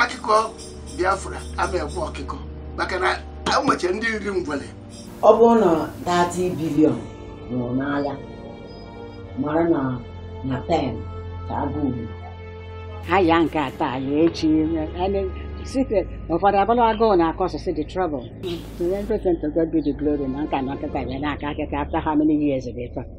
akụkọ Biafra ama ekwe ọkịkọ maka na enweche ndị nri ngwele ọ bụrụ na 30 billion nwụrụ n'agha mara na 10 ka agụ ugbu ha ya nke a taa ya echi site ụfọdụ abụla agụụ na-akọ ọsụsụ the trouble to everything to God be the glory na nka na nkịta ya na-aka akịka after how many years of effort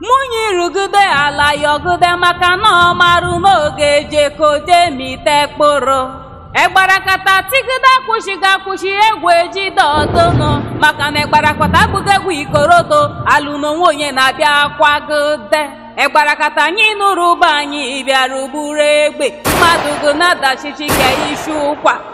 Mụnye irugide ala yọgide maka na ọ marụ n'oge ejekode mite kpụrụ. Egbarakata tigide akwụshiga akwụshi egwu ejide ọdụnụ maka na egbarakata abụghị egwu ikorodo alụ n'onwe onye na-abịa akwagide. Egbarakata anyị nụrụ ụba anyị bịara buru egbe mmadụ gụ na-adachichi ka ishi ụkwa.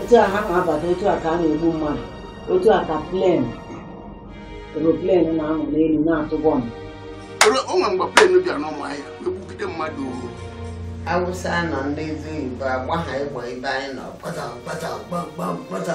otu a ha na-abata otu a ka a na-egbu mmadụ otu a ka plane aeroplane na-anọ n'elu na-atụ bọmbụ o nwere mgbe plane bịara n'Ụmụahịa na-egbugide mmadụ Awụsa nọ ndị ezi Igbo agba ha ịgba ebe anyị nọ kpata kpata kpamkpam kpata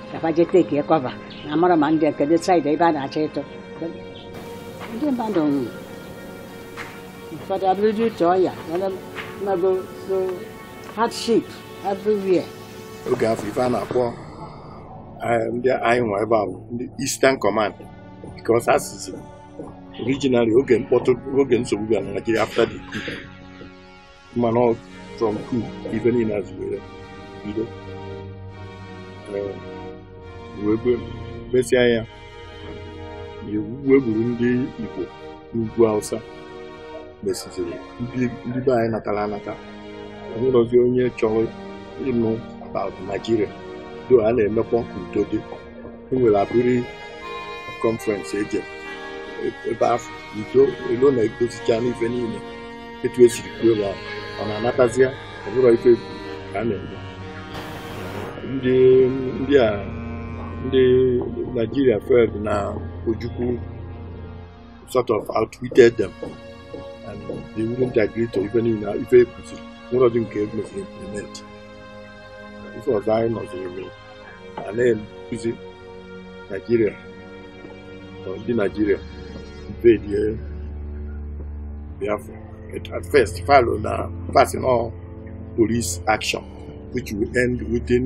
ka fa je take cover na amara ma ndị nke dị side ebe a na-achọ ịtụ ndị mmadụ nwụrụ ụfọdụ abụrụdị uche ọya mmago so hardship everywhere oge afụ ife a na-akpọ eh, ndị anyị nwa ebe a bụ ndị Eastern Command because asụsụ originally oge mkpọtụ oge nsogbu bịara na Nigeria after the mana from coup ife niile azụwere bido Ee, wee gbe- mesịa ya wee gburu ndị Igbo n'ugwu Hausa mesiziri ndị ndị be anyị natara anata onwerozi onye chọrọ ịnụ about Nigeria though a na-emekwa ka udo dị e nwere Aburi conference eje ebe afụ udo elo na edozichana ife niile etu esiri kwuo ebe ahụ mana a natazia ọ bụrụ ife egwu ka a na-eme ndị ndị a ndị Nigeria felt na Ojukwu sort of outwitted them and they wouldn't agree to ife niile ife ekwuziri nwerọdị nke emeziri implement ife ọzọ anyị nụziri mere a na-ekwuzi Nigeria ndị Nigeria invadie Biafra at first fa lo na fa sị na ọ police action which will end within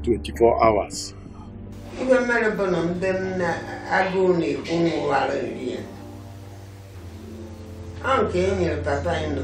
24 hours ihe mere bụ na ndị nna agụụ na-egbu nwụwara nri ya ọ nke e nyere papa anyị nọ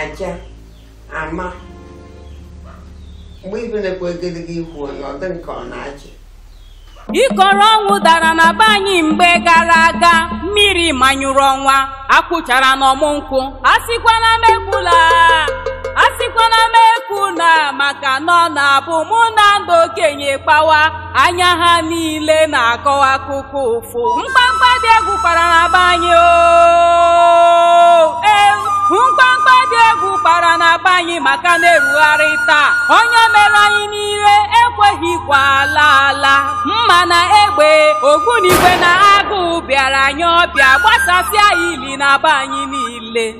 aja ama mgbe ibe na-ekwe egedege ihu onye ọ dị nke ọ na-achị ikoro ọnwụ dara na be anyị mgbe gara aga mmiri manyụrụ ọnwa akwụchara n'ọmụ nkwụ asịkwana m ekwula asịkwana m ekwula maka na ọ na-abụ mụ na ndị okenye kpawa anya ha niile na-akọwa akụkọ ụfụ mkpamkpa dị egwu kpara na be anyị oo ee mkpamkpa dị egwu kpara na be anyị maka na erugharị taa ọnya e merụ anyị niile ekweghịkwa ala ala mma na egbe ogbunigwe na agụụ bịara anyị ọbịa gbasasịa ili na be anyị niile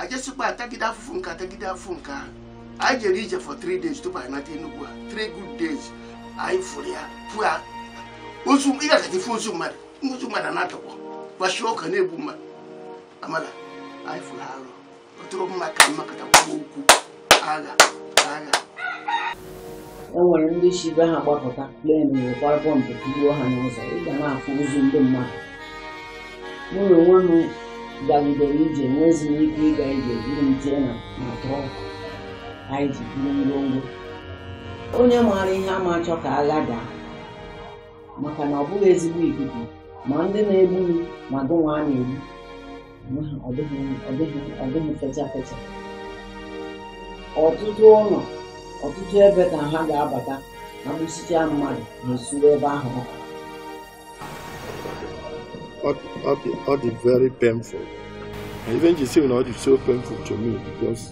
ajesikwa atagide afụfụ nke atagide afụfụ nke ahụ anyị jere ije for three days tupu anyị nata Enugu a three good days anyị fụrụ ya bụ ozu ị gagata ị fụ ozu mmadụ ozu mmadụ na-atọgbọ gbachie ọka na-egbu mmadụ amala anyị fụrụ arụ ọ tụrụ mma ka mmakọta gwa okwu agha agha e nwere ndị si be ha gbapụta plane wekwara bomb tugbuo ha n'ụzọ ị ga na-afụ ozu ndị mmadụ mụnwa onwe m gagidere ije enwezi m ike ịga ije eburu m tinye na na truck anyị ji buru ngwongwo onye maara ihe ama achọ ka agha daa maka na ọ bụghị ezigbo ikuku ma ndị na-egbu gị ma gụnwa a na-egbu ọ dịghị fecha fecha ọtụtụ ụlọ ọtụtụ ebe ka ha ga-abata egbusịa mmadụ na usoro ebe ahụ ọ dị very painful ife m ji sị na ọ dị so painful to me because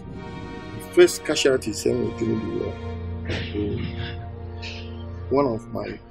the first casualties e nwere during the war one of my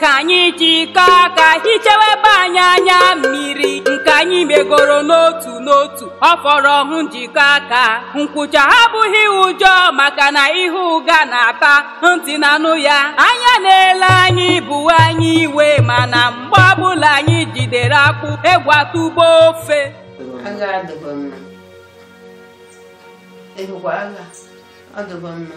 ka anyị jikọọ aka hichewe ibe anyị anya mmiri nke anyị megoro n'otu n'otu ọ fọrọ ọhụ njikọ aka nkwụcha abụghị ụjọ maka na ihe ụga na-ata ntị na-anụ ya anya na-ele anyị bu anyị iwe mana mgbe ọbụla anyị jidere akpụ egwu atụgbuo ofe agha adịbọ mma ebukwa agha ọ dịbọ mma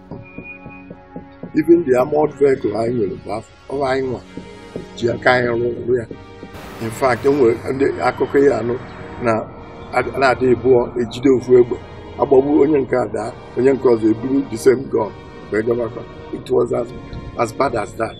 even the armored vehicle anyị nwere bụ anyị nwa ji aka anyị rụọ ya in fact enwere ndị akụkọ ị ya-anụ na a na-adị abụọ ejide ofu egbe agbagbuo onye nke a daa onye nke ọzọ eburu the same gun wee gabakwa it was as, as bad as that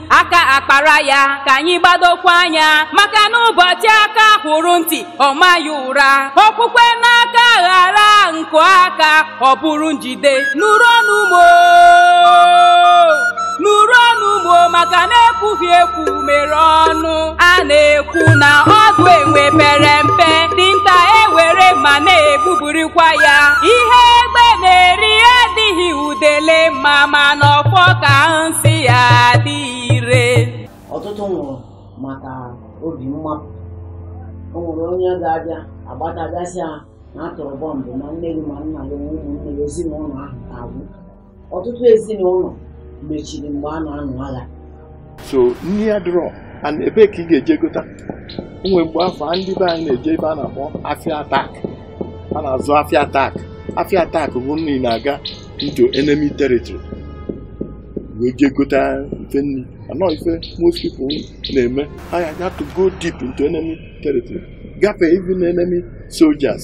aka akpara ya ka anyị gbadokwa anya maka na ụbọchị aka hụrụ ntị ọ maa ya ụra okwukwe n'aka ghara nku aka ọ bụrụ njide nụrụ ọnụ m o nụrụ ọnụ m o maka na ekwughị ekwu mere ọnụ a na-ekwu na ọdụ enwe pere mpe dinta ewere mma na-egbuburikwa ya ihe egbe na-eri adịghị dele mma mana ọfọ ka nsi ya dị ire ọtụtụ nwụrụ maka obi mmapụ o nwere onye ga-abịa agbatagasịa na a tụrụ bọmbụ ma nne gị ma nna gị ma ụmụnne gị ezinụlọ ahụ ka agwụ ọtụtụ ezinụlọ mechiri mgbe a na-anụ agha so nri adịrọ and ebee ka ị ga-eje gota o nwe mgbe afụ a ndị be anyị na-eje ebe a na-akpọ afịa attack a na-azụ afịa attack afịa attack bụ na ị na-aga into enemy territory wee jee gota ife nri anọ ife most people na-eme ha had to go deep into enemy territory gafee even enemy soldiers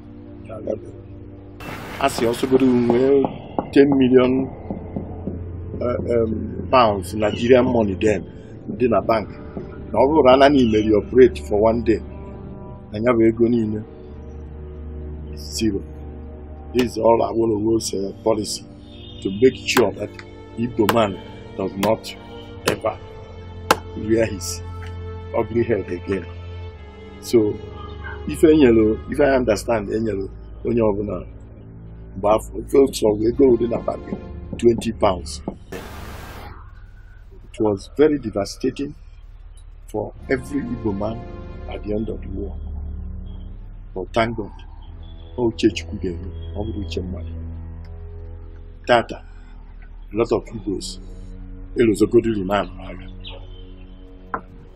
a sị ọ sọgodu i nwee 10 million eh, em, pounds Nigerian money then dị na bank na ọ bụrụ na na i meri operate for one day na ya bụ ego niile zero this is all Awolowo's uh, policy to make sure that Igbo man does not ever rear his ugly head again. so ife enyelu ife anyị understand enyelu onye ọbụla mgbe afụ ife chọrọ ego dị na bank 20 pounds it was very devastating for every Igbo man at the end of the war but thank God ọ uche Chukwu ga-eme ọ bụrọ uche mmadụ tata a lot of Igbos elozogodi remand agha